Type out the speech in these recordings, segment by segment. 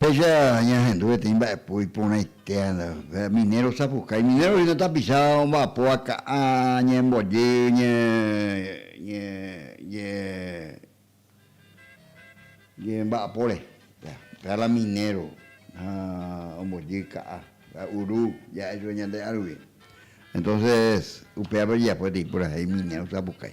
Péicha ñahendu peteĩ mba'epo iporãitéva, minéro osapukái, minéro hína tapicha omba'apóva ka'ã ñembojy ñe, ñe, ñe, ñemba'apóre, péva la minéro ombojy ka'ã, uru ja'e chupe ñande ã rupi, entónses upévape ojeapo peteĩ purahéi minéro osapukái.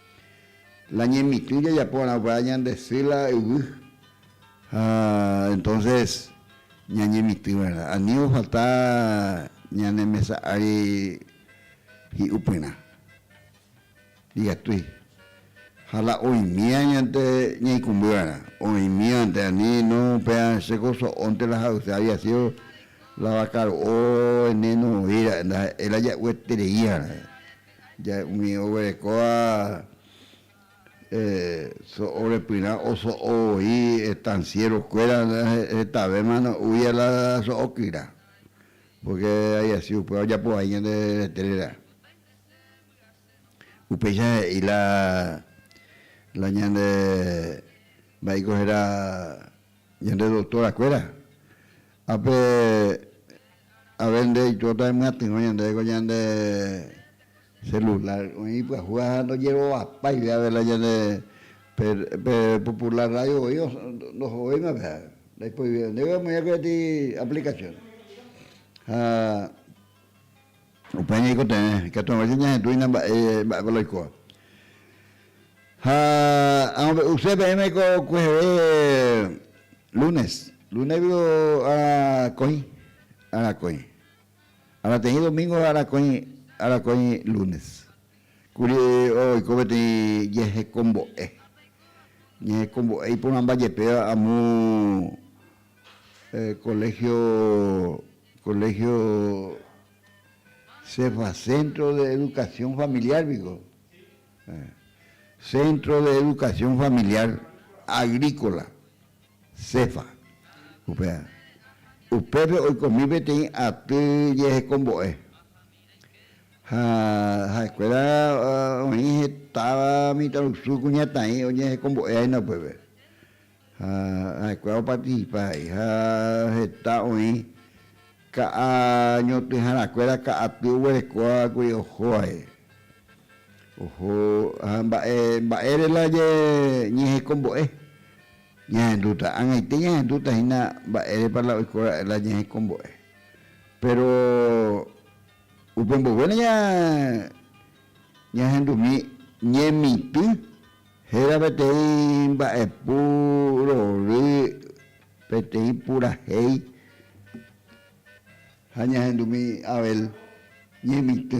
La ñemitỹ jajaporãva ñande sy la yvy ha entonces ñañemitỹ verdad, ani ofalta ñane mesa ári hi'upyrã igatúi ha la oimía ñande ñaikũmbýva'erã, oimívante ani no péva che ko so'ónte la ha'use había sido la vakaro'o eneno oĩra'e ndaha'éi la ja'uetereíva. Ja umi oguerekóva so'o repyrã oso'o voi estanciero kuéra hetave mano ui a la so'o kyra porque hay asi upéva ojapo vai ñande retére. Upéicha he'i la ñande mba'éiko héra Ñande doctora kuéra, ápe ave nde itóta emyatyrõ ñandéve ko ñande celular, oĩ ipyahuva ha ndojerovapáive ave la ñande pe, pe popular radio voi ndohovéima pe ha ndaiproivéva, ndéve amoĩ koti aplicación ha. Upéi ñaikotevẽ, ikatu hag̃ua che ñahetũina mba'e mba'épa la oikóva. Ha amombe'use peẽme ko kueheve lúnes, lúnegui arakõi, arakõi, arateĩ domíngo ha arakõi, arakõi lúnes kuri oiko peteĩ jehekombo'e, jehekombo'e iporãmba jepéva amo koléhio Colegio Cefa, Centro de Educación Familiar piko, Centro de Educación Familiar Agrícola, Cefa, upéva. Upépe oikomi peteĩ aty jehekombo'e, ha ha'ekuéra oĩ hetáva mitãrusu kuñataĩ oñehekombo'e ha'éna upépe. Ha ha'ekuéra opatisipa ha'e, ha heta oĩ ka'a ñotỹharakuéra ka'aty oguerekóva kuri oho ha'e. Oho, ha mba'e, mba'ére la je ñehekombo'e? Ñahendúta, ag̃aite ñahendúta hína mba'érepa la oiko ra'e la ñehekombo'e. Péro upe mboyve la ñahendumi ñemitỹ Héra peteĩ mba'epu rory peteĩ purahéi ha ñahendumi Abel ñemitỹ.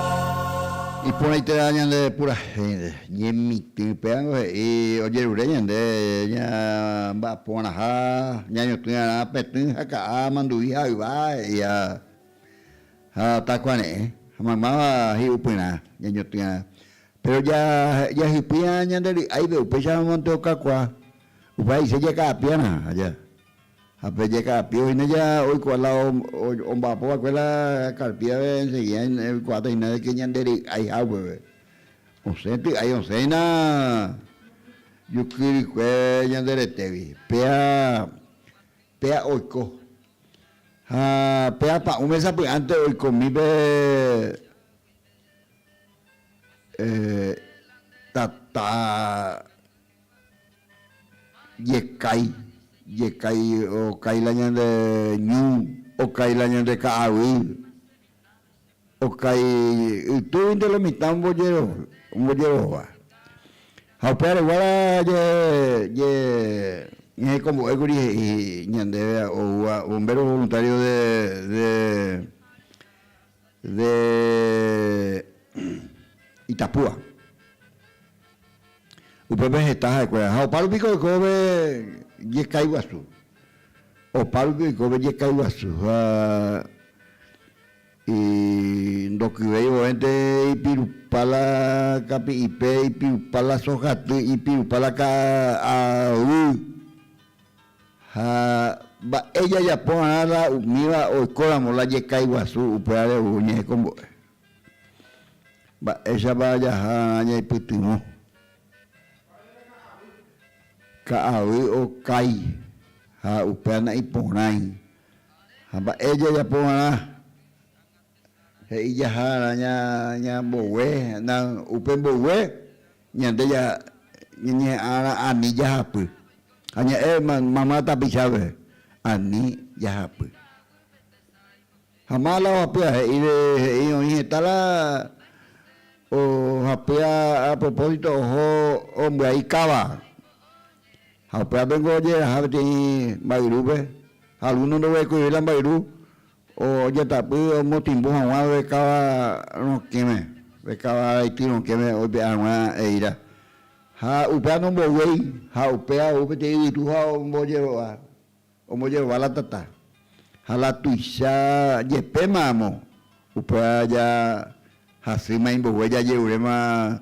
Iporãiteva ñande purahénte, ñemitỹ. Péango he'i ojerure ñande ñamba'aporãha, ñañotỹarã petỹ ha ka'a, mandu'i ha yva, he'i ha ha takuare'ẽ ha maymáva hi'upyrã ñañotỹarã. Péro ja jahypýirã ñande ry'áipe, upéicharamo nde okakuaa, upéva he'ise jaka'apiarã aja. Ha pe jeka'apive oĩne ja oikuaa la omba'apo va'ekue la karpíave enseguida oikuaáta hína de ke ñande ry'aiha upeve. Osẽ ty'ái osẽ hína juky rykue ñande retévi. Péa, péa oiko. Ha pe apa'ũ mesa py'ánte oikomi pe tata Jekái, jekái, okái la ñande ñu, okái la ñande ka'aguy, okái ytýguinte lo mitã ombojerohova. Ha upe areguára jehe ñahekombo'ékuri he'i ñandéve oúva Bombero Voluntario de De Itapúa. Upépe heta ha'ekuéra. Ha opárupi ko oikóve jekái guasu. Opárupi oikóve jekái guasu. Ha ndokyvéi vovénte ipirupa la kapi'ipe, ipirupa la sohaty, ipirupa la ka'aguy. Ha mba'e jajaporãrã la umíva oikóramo la jekaiguasu upévare ou oñehekombo'e? Mba'éichapa jahararã ñaipytyvõ? Ka'avy okái ha upéva na'iporãi. Ha mba'e jajaporãrã? He'i jahára ña mbogue, upe mbogue ñande ñañeha'ãrã ani jahapy. Ha ña'e mamá tapichápe, ani jahapy. Ha mala ohapýa, he'i oĩ heta la ohapýa a propósito oho ombyai káva. Ha upévape niko ojeraha peteĩ mba'yrúpe, ha alguno ndoguerekoivéi la mba'yru. Ojetapy omotĩmbo hag̃ua upe káva rokẽme, upe káva araity rokẽme oipe'a hag̃ua eíra. Ha upéva nomboguéi, ha upéva ou peteĩ yvytu ha ombojerova, ombojerova la tata. Ha la tuicha jepéma amo, upéva ja. Hasy mai mboyve jajeruréma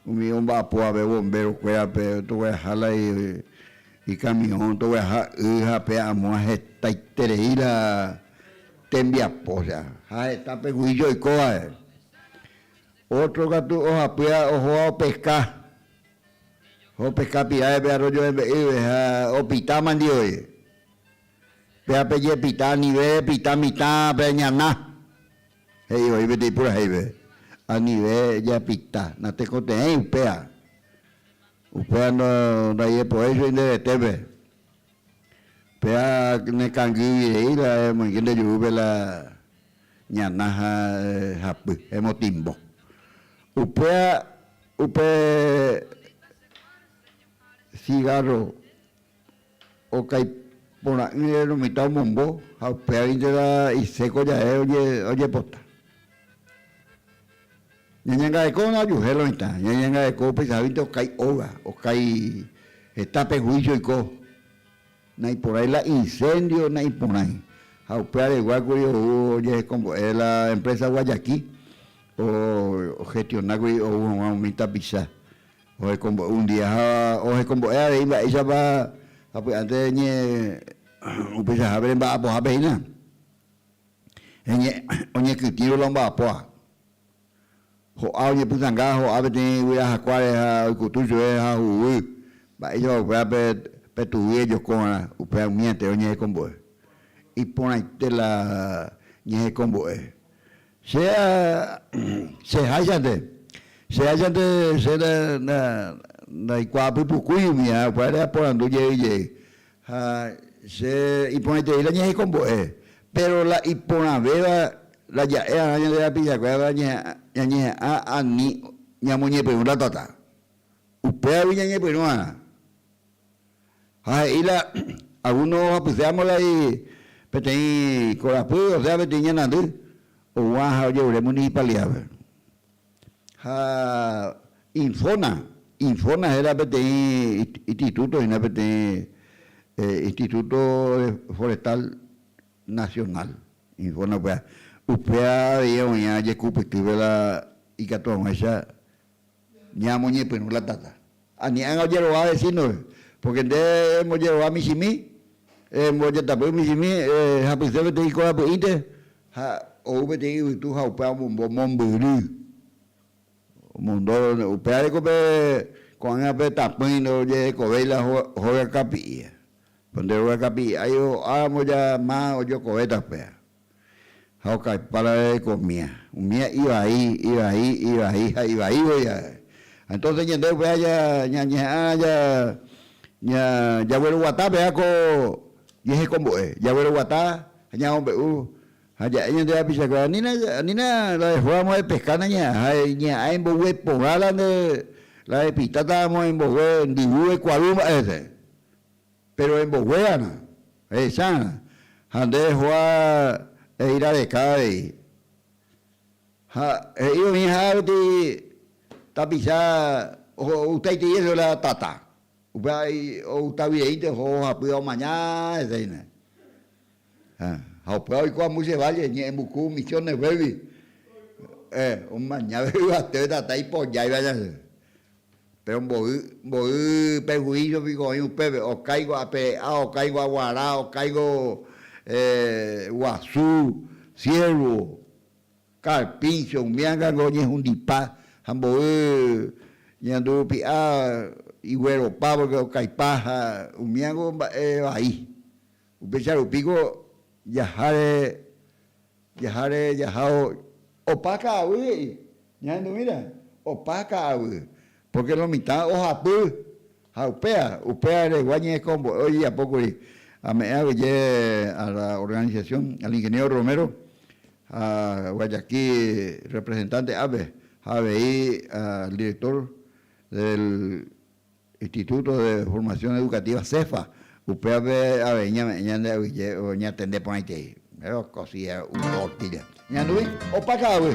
umi omba'apo ape bombero kuérape togueraha la ikamiõ togueraha y ha pe amoa hetaiterei la tembiapo osea ha heta pegui joikóvae otro katu ohapýa ohóva opeska ha opeska pirave pe arroyo rembe'ýve ha opita mandive péa pejepita anive repita mitã peñana He'i oĩ peteĩ purahéipe, Anive japita, natekotevẽi upéva. Upéva ndaijepovéi che inderetépe. Péva nekangýirei la emoinge nde jurúpe la ñana ha hapy, emotimbo. Upéva upe cigarro. Okaipora'ỹre romitã omombo ha upévarintela iséko jave ojepota. Ñañangarekóvona ojuhél oĩta, ñañangareko upeichaháguinte okái óga, okái heta pe huísio oiko, naiporãi la inséndio, naiporãi. Ha upe aregua kuri ou ojehekombo'e la emprésa Guayakí, ohestiona kuri ou hag̃ua umi tapicha Ohekombo'e un día ha ohekombo'e avei mba'éichapa sapy'ánte ñe upeichahápe remba'apohápe hína, oñekytĩru la omba'apóva. Ho'a oñepytanga, ho'a peteĩ yvyra hakuáre ha oikutu chugui ha huguy, mba'éichapa upéva pe tugui ejoko va'erã, upéva umi aterõ ñehekombo'e. Iporãite la ñehekombo'e. Che háichante, che háichante che ndaikuaapypukúi umi árakuáre aporandu jey jey, ha che iporãiterei la ñahekombo'e, péro la iporãvéva la ja'e'arã ñande rapichakuérape ñañeha'ã ani ñamoñepyrũ la tata. Upévagui ñañepyrũ'arã. Ha he'i la Aguno ohapyse amo lai peteĩ korapy, osea peteĩ ñanandy, oguã ha oje'ure municipalidad-pe. Ha Infona, Infona héra peteĩ instituto hína peteĩ instituto forestal nacional, Infona upéva. Upéva avei oĩva jekupytýpe la ikatu ag̃uáicha. Ñamoñepyrũ la tata. Ani'ágã ojerova vecino-pe, pórke nde embojerova michĩmi, embojatapy michĩmi, ehapyse peteĩ korapy'ỹinte ha ou peteĩ yvytu ha upéva omombo mombyry. Omondo, upéva reko pe ko'ág̃a pe tapỹi ndojehekovéi la hóga kapi'i. Nde hóga kapi'i ái oáramo ja ma ojokovéta upéva. Ha okaipára reve ko mía. Umía ivai, ivai, ivai ha ivaívo jave. Ha entonces ñande upéva ja, ñañeha'ãrã ja, ña, jagueroguata pe'a ko jehekombo'e. Jagueroguata ha ñamombe'u. Ha ja'e ñande rapichakuéra, anína, anína la dejó amo epesca nañeha'ã ha iñeha'ã imbogue porã la nde, la epitáta amo imbogue ndyguve kuaru mba'e rese. Péro emboguéana, ehechárã, ha nde ehoa eíra reka avei. Ha he'i oĩha koti tapicha oho outaitei hese la tata, upéva outavyeínte oho ohapýva omaña hese hína. Ha upéva oiko ambuy che válle, ñe'ẽmbuku misionesguégui, omañave yvatére tata ipojáiva ñande. Péro mboy, mboy perhuíso piko oĩ upépe, okáingo apere'a, okáingo aguara, okáingo guasu, siervo, karpincho, umi ára ningo oñehundipa ha mboy ñandu rupi'a igueropa pórke okaipa ha umíango mba'e vai. Upéicha rupíko jaháre, jaháre jahao. Opa ka'aguy he'i, ñahendu'íre, opa ka'aguy, pórke lo mitã ohapy, ha upéva, upéva regua ñe'ẽkombo'e ojejapo kuri. Ame'ẽ aguyje a la organización, al ingeniero Romero, ha Guayaki representante-ápe, ha avei al director del. Instituto de Formación Educativa, CEFA, upévape avei ñame'ẽ ñande avyje ñatende porãitei. Péro cosilla uno tortilla. Ñandúi opa ka'aguy.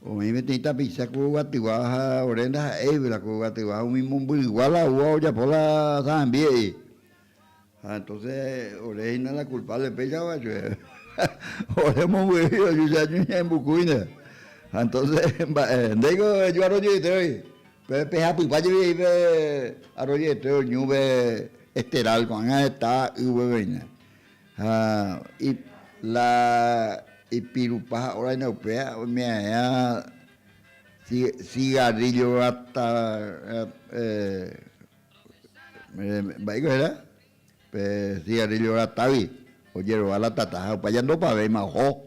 Oĩ peteĩ tapicha ko yvatyva ha ore ndaha'éipe la ko yvatyva umi momby'ygua la úva ojapo la sa'ambi he'i. Ha entonce ore hína la culpable péichava chugui. Ore omomby'ýi ojucha ñembukuíne. Ha entonce mba'e, ndéiko eju arroyoeteói. Pe pehapypa jepi he'i pe arroyoeteo ñúpe esteral ko'ág̃a heta ýveg̃uine. Ha ip la ipirupa ha oraina upea omeaea ci, cigarrillo rata, eh, mba'éiko héra? Pe cigarrillo ratagui, ojerova la tata ha opa jandopavéima oho.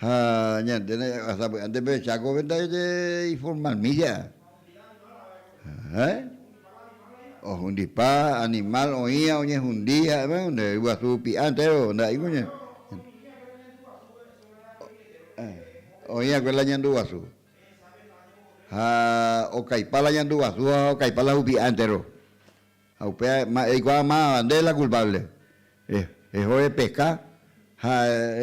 Ha ñande ra'ysa py'ánte pehecha kóve ndaje iformalmílla. Héẽ? Ohundipa animál oĩva oñehundi ha'evéva nde yguasu py'a entéro nda'éiko ña oĩva'ekue la ñandu guasu. Ha okaipa la ñandu guasu ha okaipa la hupi'a entéro. Ha upéva eikuaa máva nde la kulpáble. Eho epeka ha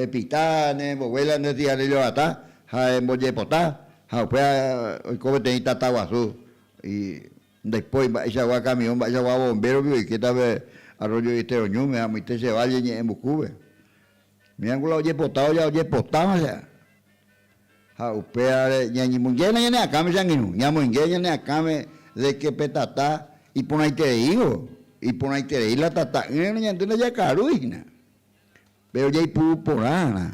epita ne embovuela ne cigarrillo vata ha embojepota, ha upéva oiko peteĩ tata guasu y ndaipóri mba'eichagua camión, mba'eichagua bombero rupi oikétape Arroyo de Estero ñúme ha amoite che valle ñe'ẽmbukúpe. Mirangula ojepota oja ojepotávã che. Ha upévare ñañemongéna ñane akãme che angirũ, ñamoinge ñane akãme de ke pe tata iporãitereívo, iporãiterei la tata'ỹreno ñande ndajakarúi hína. Péro jaipuru porãrã,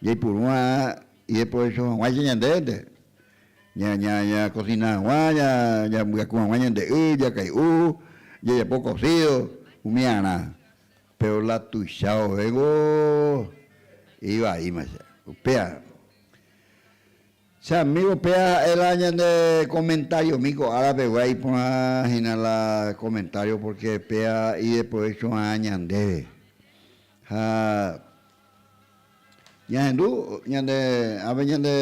jaipuru va'erã ideprovecho hag̃uáicha ñandénte, ñakosina hag̃ua, ñambyaku hag̃ua ñande y, jakay'u, jajapo kosido, umiarã. Péro la tuicha ovévo ivaíma che. Upéva che amígo péva ha'e la ñande komentariomi ko ára pegua iporã hína la komentário pórke péva ideprovécho va'erã ñandéve. Ha ñahendu ñande ápe ñande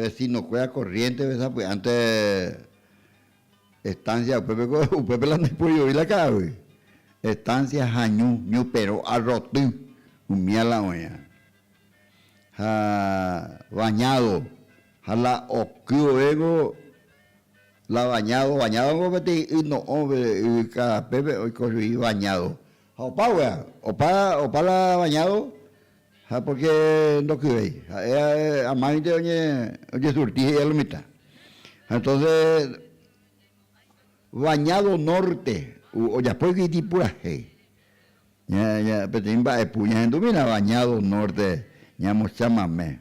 vestinokuéra korriénteve sapy'ánte. Estancia upépe ko, upépe la ndoipoivoi la ka'aguy. Estancia hañu, ñuperõ arroty, umía la oĩva. Ha bañado, ha la oky vove ko la bañado, bañado ko peteĩ y no'õve yvyka pépe oiko chugui bañado. Ha opa guéa, opa, opa la bañado. Ha pórke ndokyréi. Ha'e amáinte ojesurti, he'i al mitã. Ha entónse Bañádo Nórte ojapóigui itipurahéi. Peteĩ mba'epu, ñahendúmina Bañádo Nórte ñamochamame.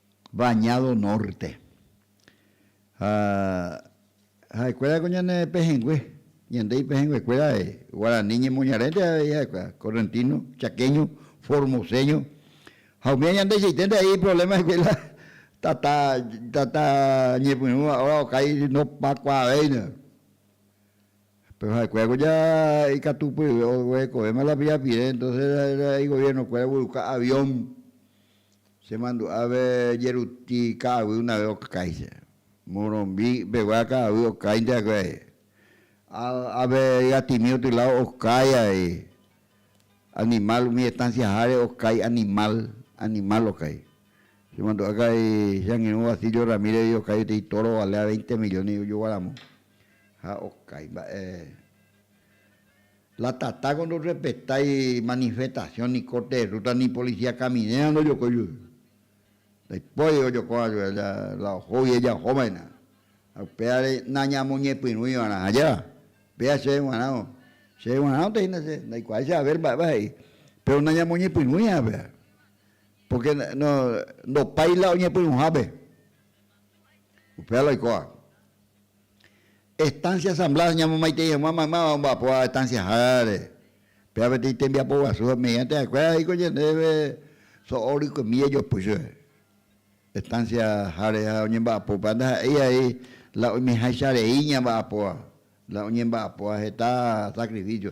Bañado Norte. Ha ha'ekuéra ko ñane pehẽngue, ñande ipehẽnguekuéra guarani ñemoñarénte avei ha'ekuéra, correntino, chaqueño, formoseño. Ha umíva ñandeichaiténte ahí iproblema'ekue la tata, tata ñepyrũva óra okái ndopakuaavéina. Péro ha'ekuéra ko ja ikatu pyve oguerekovéma la pirapire, entonces la igobiernokuéra ogueruka avión. Che mandu'ápe jeruti ka'aguy unave okáicha. Morombi pegua ka'aguy okáinte akue ae. Ápe ygatimi otylao okái ae. Animal umi estancia háre okái animal, animal okái. Che mandu'a ka'ai che angirũ Basilio Ramírez gui okái peteĩ toro ovale a veinte millones ojoguaramu ha okái mba'e. La tatáko ndorrespetái manifestasiõ niko terrúta ni policía caminera ndojokói jey. Ndaipóri ojokóva jey la ohógui ejahóva'erã. Ha upévare nañamoñepyrũiva'erã ajáva. Péa chéve g̃uarãvo. Chéve g̃uarãvonte hína che, ndaikuaái che aver mba'épa he'i. Péro nañamoñepyrũiva upévare. Pórke no, ndopái la oñepyrũhápe. Upéva la oikóva. Estancia Asamblea oñamomaitei hag̃ua maymáva omba'apóva estanciaháre. Péva peteĩ tembiapo guasu ha mediante ha'ekuéra he'íko ñandéve so'o rykomi jajopy chupe estanciaháre ha oñemba'apópa ndaha'éi avei la oimeháicha rei ñamba'apóva, la oñemba'apóva heta sacrificio.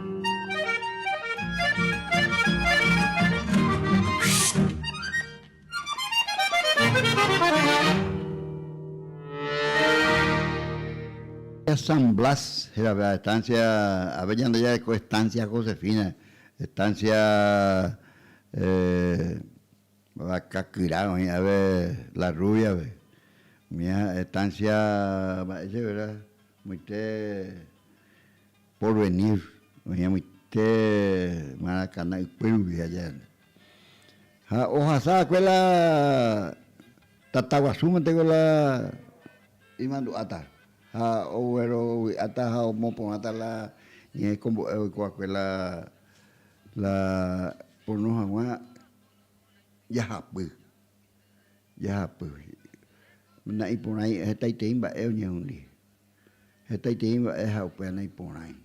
San Blas héra pe estancia, ape ñande jaeko estancia Josefina, estancia Vakakyra oĩ ape La Rubiape, umi estancia mba'e chéve reta, moite Porvenir, oñemoite Maracaná ykue rupi jajaépe. Ha ohasa va'ekue la tataguasu mante ko la imandu'áta ha oguerovy'áta ha omoporãta la ñehekombo'e oiko va'ekue la la pono hag̃ua jahapy, jahapy. Na'iporãi hetaitei mba'e oñehundi. hetaitei mba'e ha upéva naiporãi.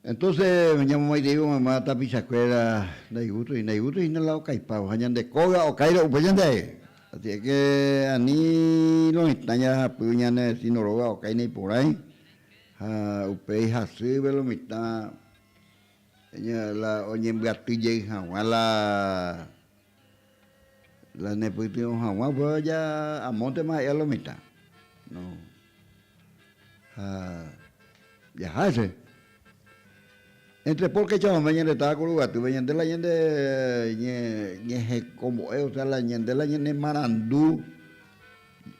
Entonces ñamomaitei omama tapichakuéra ndaigusto, ndaigusto hína la okaipávo ha ñande kóga okáirõ upe ñandeague. Asi es que ani loĩtã ñahapy ñanedeci no róga okái naiporãi ha upéi hasýpe lo mitã la oñembyaty jey haguã la La nepytyvõ haguã upéva ja amóntema ha'e a la mitã. No. Ha jaha hese. Entre pórke ja ome ñande táva ku Rugatýpe, ñande la ñande ñehekombo'e, osea la ñande la ñane marandu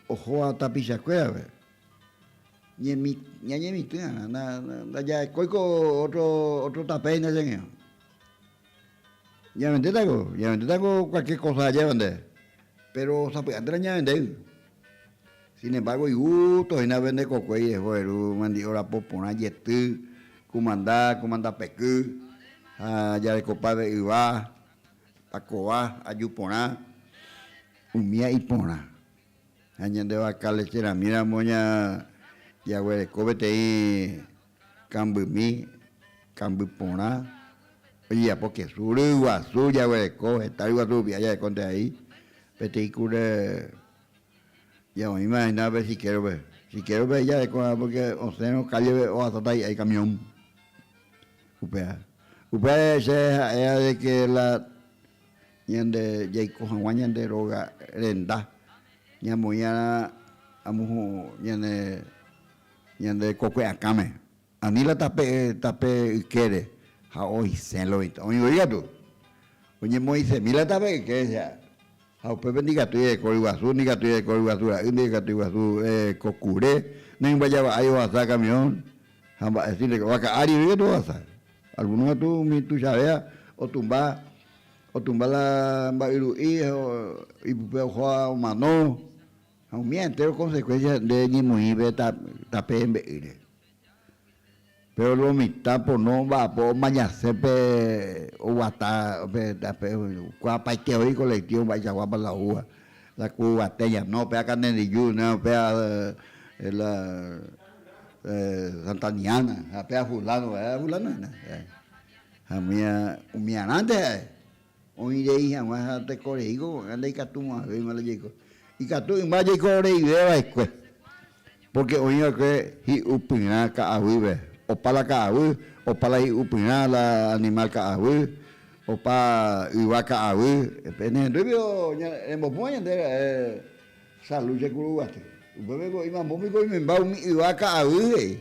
ohóva tapichakuérape, ñemi ñañemitỹ va'erã, na ndajaekói ko ótro, ótro tape hína cheñe'õ. Ñaventéta ko, ñaventéta ko cualquier cosa ajéva nde, péro sapy'a térã ñavendéi. Sin embárgo igusto hína pende kokuéi eho eru mandi'o rapo porã jety, kumanda, kumanda peky, ha jarekopáve yva, pakova, aju porã, umía iporã. Ha ñande vaka lecheramíramo ña jaguereko peteĩ Kambymi, kamby porã, ojejapo kesu, ryguasu jaguereko, heta ryguasu rupi jarekónte ahí, peteĩ kure ñaoĩma hína pe siquerope, siquerope ahí jarekoha porque osẽrõ callepe ohasáta hi'ái camión, upéva, upéva che ha'éva de que la ñande jaiko haguã ñande róga renda, ñamoĩva'erã amohu ñane Ñande kokue akãme, ani la tape tape ykére, ha oisẽ loita. Oĩ voi katu, oñemoĩsemi la tape yke che, ha upépe ndikatúi ereko ryguasu, ndikatúi ereko ryguasu ra'y, ndikatúi guasu ereko kure, ndoimbojava'ái ohasa kamión, ha mba'e si reko, vaka ári voi katu ohasa. Algúno katu umi tuichavéva otumba, otumba la mba'yru'i, ha ipype oho ha omano. Ha umi entéro konsekuénsia nde eñemoĩve tape embe'ýre. Péro lo mitã pono mba'apo omañasẽ pe oguata pe tape kuaapaiteoi kolektívo mba'eichakuápa la oúva, la ku yvate ñano, péva Kandenriju, péva la Santaniána ha péva fulano, fulanohína. Ha umi arandeha Oĩ rei hag̃ua ha teko reíko ko'ã ndaikatumo'ãvéima la jaiko. Ikatu yma jaiko ore'ive va'ekue, pórke oĩ va'ekue hi'upyrã ka'aguýpe, opa la ka'aguy, opa la hi'upyrã la animál ka'aguy, opa yva ka'aguy. Pene hendúipe rembopúva ñande ra'e Salud che Kuruguaty. Upépe oĩma mombipiko oimemba umi yva ka'aguy he'i.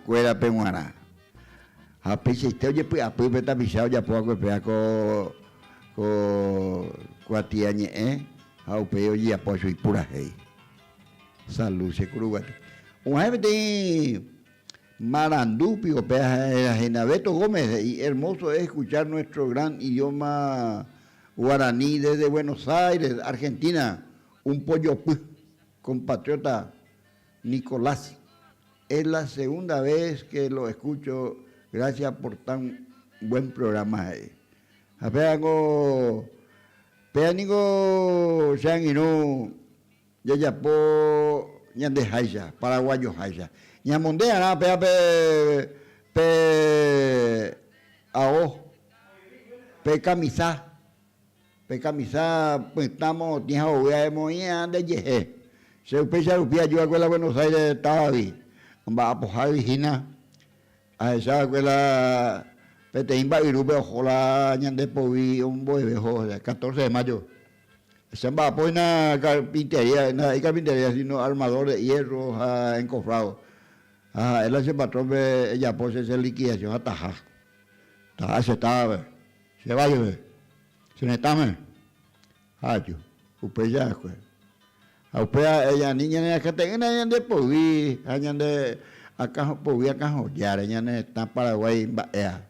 kuérape g̃uarã. Ha peichaite ojepy'apy pe tapicha ojapo va'ekue péva ko, ko kuatia ñe'ẽ ha upéi ojejapo chugui purahéi. Salu, che kuru guaty. U'ahẽ peteĩ marandu piko pe héra Henaveto Gómez he'i, Hermoso es escuchar nuestro gran idioma guaraní desde Buenos Aires, Argentina, un pojopy compatriota Nicolás Es la segunda vez que lo escucho, gracias por tan buen programa he'i. Ha péva niko, péva niko che angirũ jajapo ñandeháicha, paraguayoháicha. Ñamonde'arã pévape pe ao, pe kamisa. Pe kamisa pytã morotĩ ha ogue aemoĩ'ã nde jehe. Che upéicha rupi aju va'ekue la Buenos Aires távagui, amba'apohágui hína ahecha va'ekue la peteĩ mba'yrúpe oho la ñande poguy ombo'eve oho hese, catorce de mayo. Che amba'apo hína carpintería, ndaha'éi carpintería sino armador de hierro ha encofrado. Ha ha'e la che patrón-pe ejapo che che liquidación ataha, taha che távape. Che valle-pe, che retãme, ha aju, upéi jahakue. Ha upéi ha'e ñani ñanerakãte'ỹre ñande poyvi ha ñande akã poyvi akãhojáre, ñane retã Paraguái mba'éva.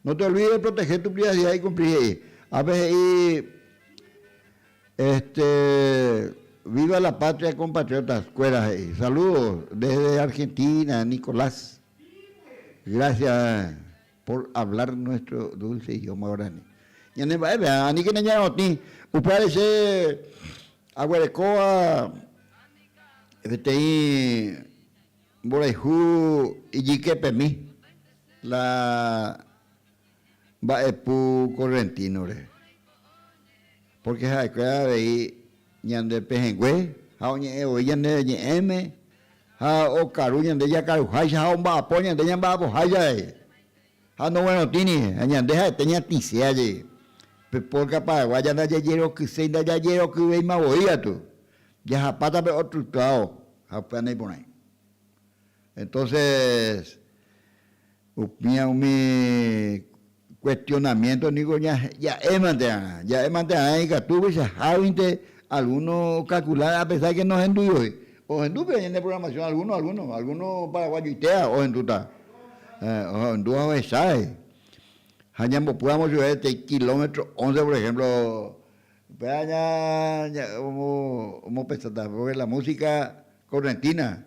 No te olvide de proteger tu privacidad y cumplir he'i. Ápe he'i este, Viva la patria compatriotas, kuéra he'i. Saludos desde Argentina, Nicolás. Gracias. Por hablar nuestro dulce idioma guarani. Ñane mba'eve, aníkena ñae otĩ. Upévare che aguerekóva peteĩ mborayhu ijykepemi, la mba'epu correntino-re. Pórke ha'ekuéra avei ñande pehẽngue ha oñe'ẽ voi ñande ñe'ẽme ha okaru ñande jakaruháicha ha omba'apo ñande ñamba'apoháicha avei. Ha noguerotĩri, ha ñande ha'ete ñatĩse ajei. Pe pórka paraguáya ndajajerokyséi ndajajerokyvéima voi katu, jahapáta pe ótro tuao ha upéva naiporãi. Entóses, Upéva umi kuestionamiénto ningo ja'émante va'erã. Ja'émante va'erã ikatu upeichaháguinte algúno okalkula apesár de ke nohenduiói. Ohendu peve ñande programasión algúno, algúno, algúno paraguayoitéva ohendúta, ohendúva ohechái. Ha ñambopýramo chupe peteĩ kilómetro ónce, por ehémplo, upéva omopensáta pórke la músika korrentína.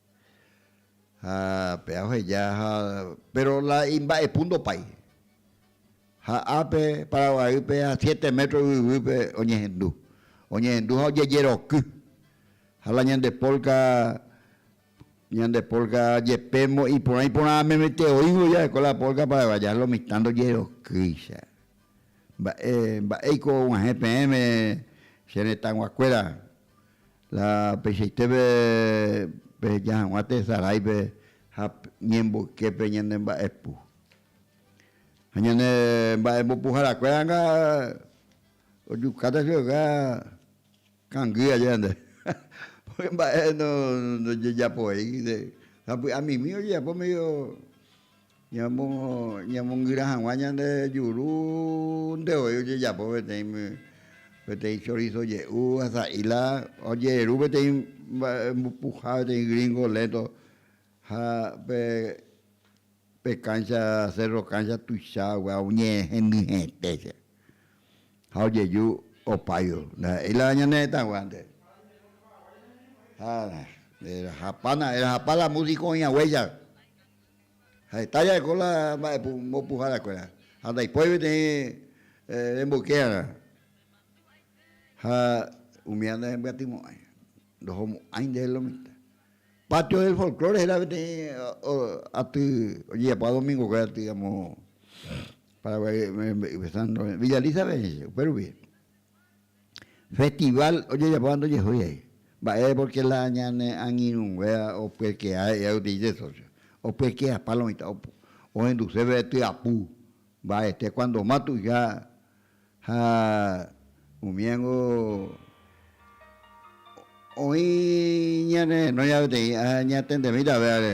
Ha pea oheja ha péro la imba'epu ndopái. Ha ápe Paraguaýpe ha siete métro yvyguýpe oñehendu. Oñehendu ha ojejeroky. Ha la ñande polka, ñande polka jepémo iporã iporã amemete oĩvo jaheko la polka paraguaya, lo mitã ndojerokýicha. Mba'e, mba'éiko og̃uahẽ peẽme che retãguakuéra La peichaiteve peheja hag̃ua tesaráipe ha ñemboyképe ñane mba'epu. Ha ñane mba'embopuharakuéranga ojukáta chuguikuéra kangy aja ñande. Pórke mba'e ndojejapovéi, sapy'amimi ojejapo medio Ñamongyra hag̃ua ñande juru ndevoi ojejapo peteĩ, peteĩ chorizo je'u ha sa'i la ojeru peteĩ mba'e mbupuha peteĩ gringo lento ha pe, pe cancha, cerro cancha tuichagua oñe'ẽ hendyete che. Ha ojeju opayu, ndaha'éi la ñane retãguánte. Ha erahapa na, erahapa la música oĩ haguéicha. Ha heta ja'éko la mba'embopuharakuéra, ha ndaipóri peteĩ remboykéarã, ha umíva ndahembyatymo'ãi, ndohomo'ãi ndéve lomitã. Patio del Folklore héra peteĩ aty ojejapo adomingokuéra aty amo Paraguái rembe'ýpe, Villa Lisa pe, upérupi. Festival ojejapóva ndojehói ai. Mba'e porque la ñane angirũnguéva opyekea he'íva gotyo dice socio. Opyekea palo mitã ohenduse pe tyapu mba'ete cuando ma tuicha ha umíango oĩ ñanerenóiva peteĩ ha ñatendemíta vévare.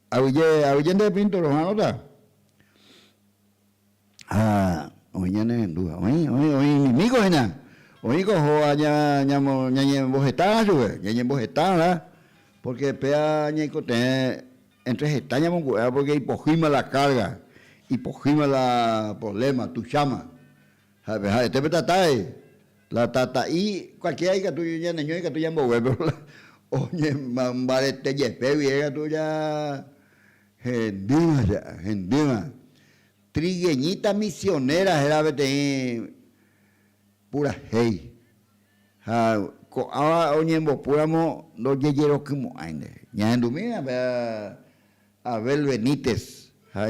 Avyje, avyje nde pintor oha'arõta ha oĩ ñane rendúva. Oĩ, oĩ, oĩ inimígo hína. Oĩko ohóva ña, ñamo, ñañembohetáva chupe, ñañembohetáva, pórke péva ñaikotevẽ éntre heta ñamongu'éva pórke ipohýima la kárga, ipohýima la provléma, tucháma. Ha'e pe ha'ete pe tatái, La tata'i cualquiera ikatu ñaneño ikatu ñambogue pero la oñembarete jepe gui ikatu ja hendýva che a, hendýva. Trigueñita misionera héra peteĩ purahéi ha ko'ãva oñembopúramo ndojejerokymo'ãi nde. Ñahendumína pe Abel Benítez ha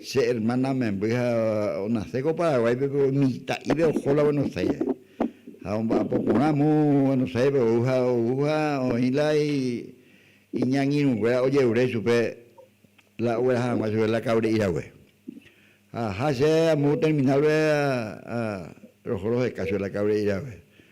Che ermána memby ha onase ko Paraguáipe pe umi ita'ípe oho la Buenos Aires. Ha omba'apo porã mu Buenos Aires pe ou ha ou ha oĩ la iñangirũ kuéra ojerure chupe la ogueraha hag̃ua chupe la Kaure Irague. Ha aha che amu terminal pe roho roheka chupe la Kaure Irague.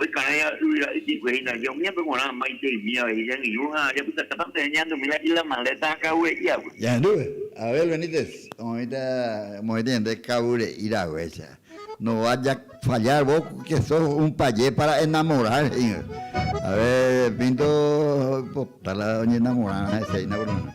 Oikãéva yvyra ypykue hína hína umívape g̃uarã maite imívape he'i jangirũ ha japytakáta osẽ ñandumi la Isla Maleta ha Cabo Re'i águi. Jahendu, Abel Benítez oĩta mo'ẽti ñande Cabo Re'i raguéicha, No vas ya fallar vos que sos un payé para enamorar he'ígui. Abel Pinto oipota la oñenamorarã hese hína por lo menos.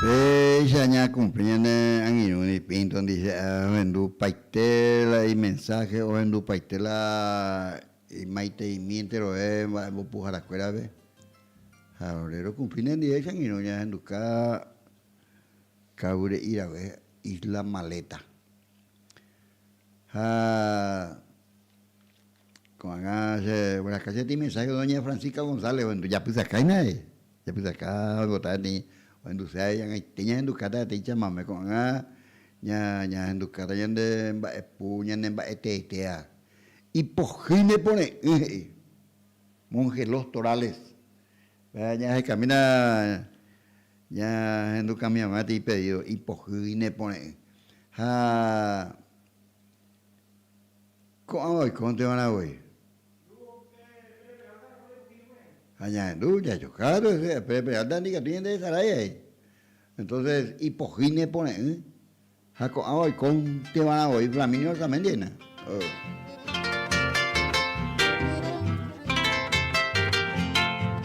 Péicha ñakumplíne angirũri Pinto ndihe'a ohendupaite la imensáhe, ohendupaite la imaiteimi entero'e mba'embopuharakuérape. Ha ore rokumplíne ndive angirũ ñahenduka kavyre'i rave Isla Maleta. Ha Ko'ág̃a che vyraka che tĩ mensáhe doña Francisca González ohendu japysakáime ae, japysaka oipotaha peteĩ ohenduse ae ag̃aite ñahendukáta peteĩ chamame, ko'ág̃a ña ñahendukáta ñande mba'epu ñane mba'eteetea. Ipohýi ne pore'ỹ he'i monje Los Torales, péa ñahekamína ñahendukamiavã peteĩ pedído, ipohýi ne pore'ỹ ha. Ko'ãva oikónteva'erã voi. Ha ñahendu jajokáta hese Pérez Peralta ndi katu ñande Esarai aĩ. Entonces ipohýi ne pore'ỹ ha ko'ãva oikónteva'erã voi Flaminio Arzamendi aína. Oh.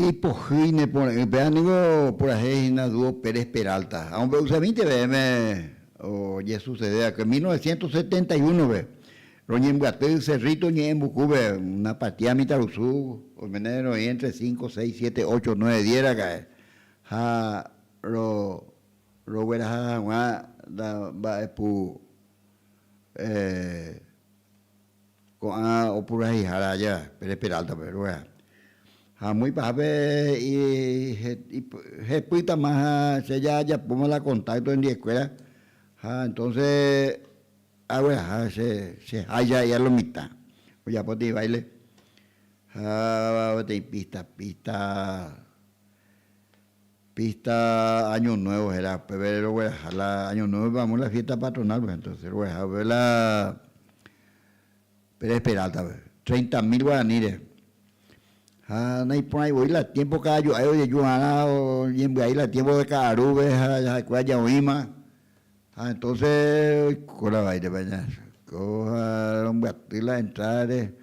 Ipohýi ne pore'ỹ péva ningo purahéi hína dúo Pérez Peralta. Ha ombo'éusa vinte ve'ẽme ojesusede va'ekue. Mil novecientos setenta y uno-pe, roñembyaty Cerrito Ñe'ẽmbukúpe, una partida mitãrusu oimene roĩ entre cinco, seis, siete, ocho, nueve, diez raka'e, ha rogueraha hag̃ua la mba'epu. Ko'ã opurahéihára aja Pérez Peráltape ruve. Ha amói pahápe hepýtama ha che jajapóma la kontákto hendiekuéra, ha entónse agueraha cheháicha ahí a lo mitã. Ojapo peteĩ báile ha peteĩ písta, písta. Pista Año Nuevo héra, upépe rogueraha la Año Nuevope amo la fiesta patronalpe, entonce rogueraha upépe la Pérez Peraltape, treinta mil guaraníre. Ha naiporãi voi la tiempo cada jo'ái ojeju va'erã oñembyai la tiempo de ka'arúpe ha jahekue aja oĩma, ha entonce oiko la vaírepe aña oiko ha rombyaty la entradare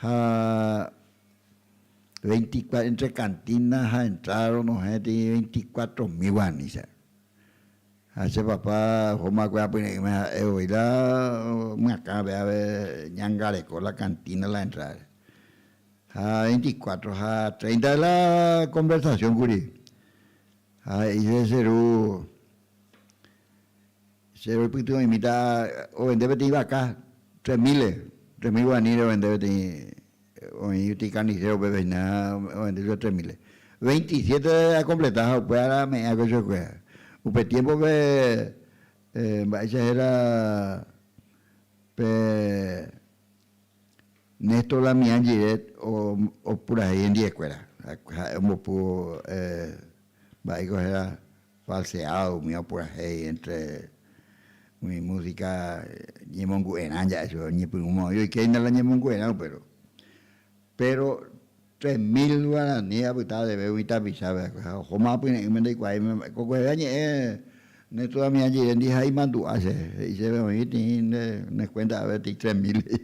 ha Veinticuatro, entre kantína ha entráda ronohẽ tei veinticuatro mil guarani che. Ha che papa ohóma va'ekue apyre'ỹme ha'e voi la myakãpe ápe ñangareko la kantína la entrádape. Ha veinticuatro ha treinta de la konversasión kuri. Ha he'ise che ru. Che roipyty oĩmíta ovende peteĩ vaka tres míles, tres mil guaraní reovende peteĩ, oĩ peteĩ karniséro pépe hína ovende chupe tres míles. Veinti siete akompleta ha upéva ára ame'ẽ hag̃ua chuekue. Upe tiémpope mba'éicha héra pe Néstor Damián Giret opurahéi hendiekuéra, ha'e ombopúvo. Mba'éiko héra falseado umi opurahéi entre umi música ñemongu'erã ja'e chupe, oñepyrũma oĩ oikeinda la ñemongu'erãu péro. Péro tres mil guarani apyta areve umi tapichape akue ha ohóma apyre'ỹme ndaikuaaime mba'e. Ko kueve añe'ẽ ne todavia jerendi ha imandu'a che, he'i chéve oĩ tĩi ne cuenta avetéi tres mil he'i.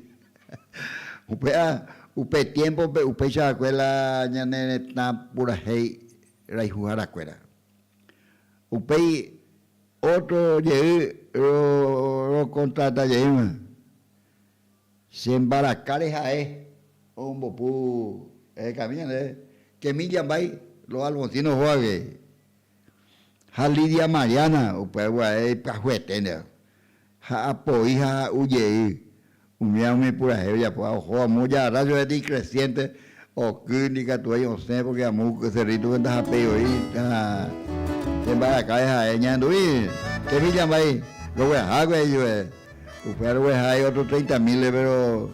Upéva upe tiémpope upéicha va'ekue la ñane retã purahéi rayhuhára kuéra. Upéi ótro jey rokontrata jeýva, che mbarakáre ha'e ombopu hekami ñandéve, Kemi Jambái, Los Alfonsinos hógagui, ha Lidia Mariana, upéva pyahue eténteva. ha apoi ha ha'u jey, umía umi purahéi ojapo ha oho amo jarra jove de icreciente oky ndi katuái osẽ porque amo uky cerrito pe ndahapéi oĩ ha che mbarakae ha'e ñahendu'i che villa mba'ei roguehague ijue upéva rogueha hay otro treinta mil pero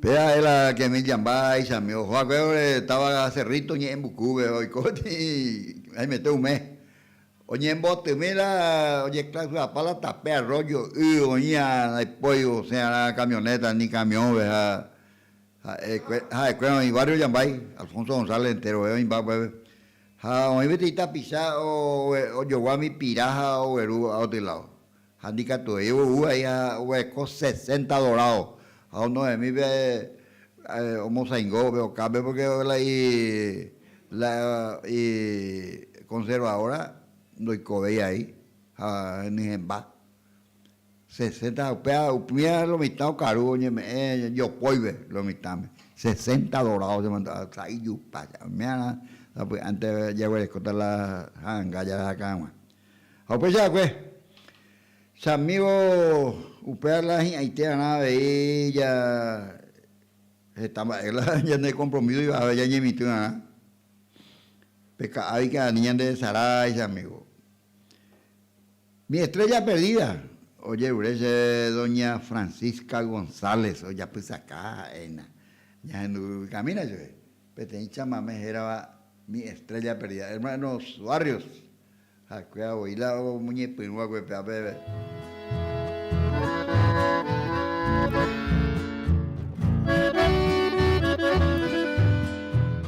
Pe ae la kemi jamba aichami oho hague ore táva Cerrito ñe'ẽmbukúve oiko tĩ haimete ume. Oñembotymi la ojeklausirapa la tape arroyo y oĩva ndaipói osẽ'arã camioneta ni camión-ve ha ha'e ha'ekuéra oĩ barrio jambái, Alfonso González enterovéva imba upépe. Ha oĩ peteĩ tapicha ojogua umi pira ha ogueru aoty ládo. Ha ndikatuei ou ahí ha oguereko sesenta dorádo, ha onohẽmi pe omosaingo upe okápe, pórke la ikonservadóra ndoikovéi ahí ha henyhẽmba. Sesenta, upéva upña lo mitã okaru oñeme'ẽ jopóive lo mitãme. Sesenta dorado che mandu'a sa'i ijupa che oimé'arã sapy'ánte jaguerekóta la ha'anga jahakã hag̃ua. Ha upéicha va'ekue, che amígo upéva la hi'ãite va'erã avei ja heta mba'e la ñande kompromíso ivave jañemitỹ va'erã. Peka'águi karai Ñanderesarái che amígo. Mi estrella perdida, ojerure chéve doña Francisca González ojapysaka ha'éna ñahendu yvykamína chéve peteĩ chamamé hérava Mi estrella perdida, Hermanos Barrios hakuéva voi la oñepyrũ hague pe apeve.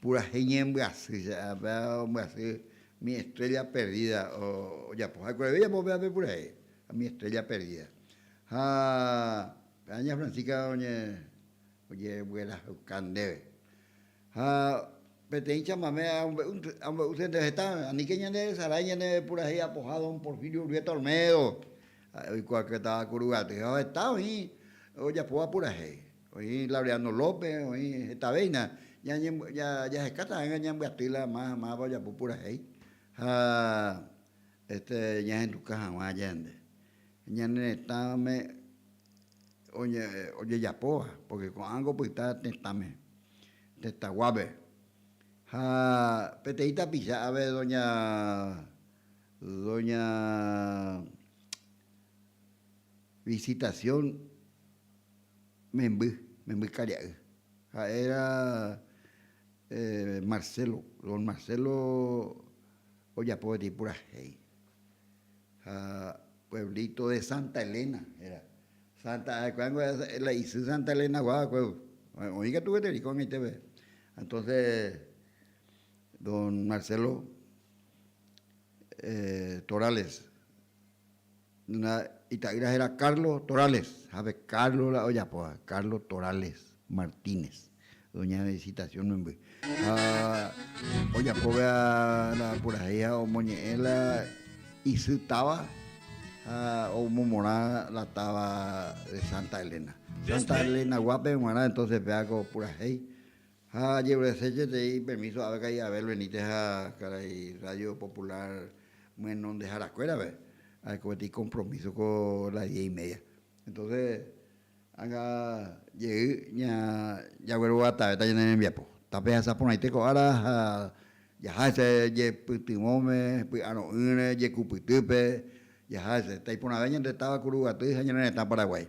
Purahéi ñembyasy, che ápe ombyasy mi estrella perdida ojapo ha'ekuéra avei apo péape purahéi mi estrella perdida. Ha péva ña Francisca ojevyerahauka ndéve. Ha peteĩ chamame amombe'úse ndéve heta, aníke ñanderesarái ñane purahéi apoha don Porfirio Urbieta Olmedo, ha'e oikuaauka táva Kuruguaty, ha heta oĩ ojapóva purahéi. Oĩ Laureano López, oĩ hetavéina. Jahekáta hag̃ua ñambyaty la más amáva ojapo purahéi ha este ñahenduka hag̃ua añande ñane retãme ojejapóva, porque ko'ág̃a opyta tetãme, tetãguápe. Ha peteĩ tapicha ápe doña, doña Visitación. memby, memby karia'y, ha'éra Marcelo, don Marcelo ojapo peteĩ purahéi. Ha pueblito de Santa Elena héra, Santa ha'ekuéra niko la isy Santa Elenagua va'ekue, oĩ katu gueteri ko'ag̃aiteve. Entonse don Marcelo Torales Nuna ita'ýra héra Carlo Torales, jape Carlo la ojapóva, Carlo Torales Martínez, doña Visitación memby. Ha ojapo véva la purahéiha omoñe'ẽ la isy táva ha omomorã la táva de Santa Elena. Santa Elena guápe g̃uarã entonces pévako purahéi. Ha ajerureséjetei permíso ápe ka'i Abel veníte ha karai Radio Popular myenondeharakuérape, ha'e ko peteĩ kompromíso ko las diez y media. Entóse ág̃a jey jagueroguatavéta ñane rembiapo. Tape hasa porãite ko ára ha jaha hese jepytyvõme, py'aro'ỹre, jekupytýpe, jaha hese. Taiporãve ñande táva Kuruguaty ha ñane retã Paraguái.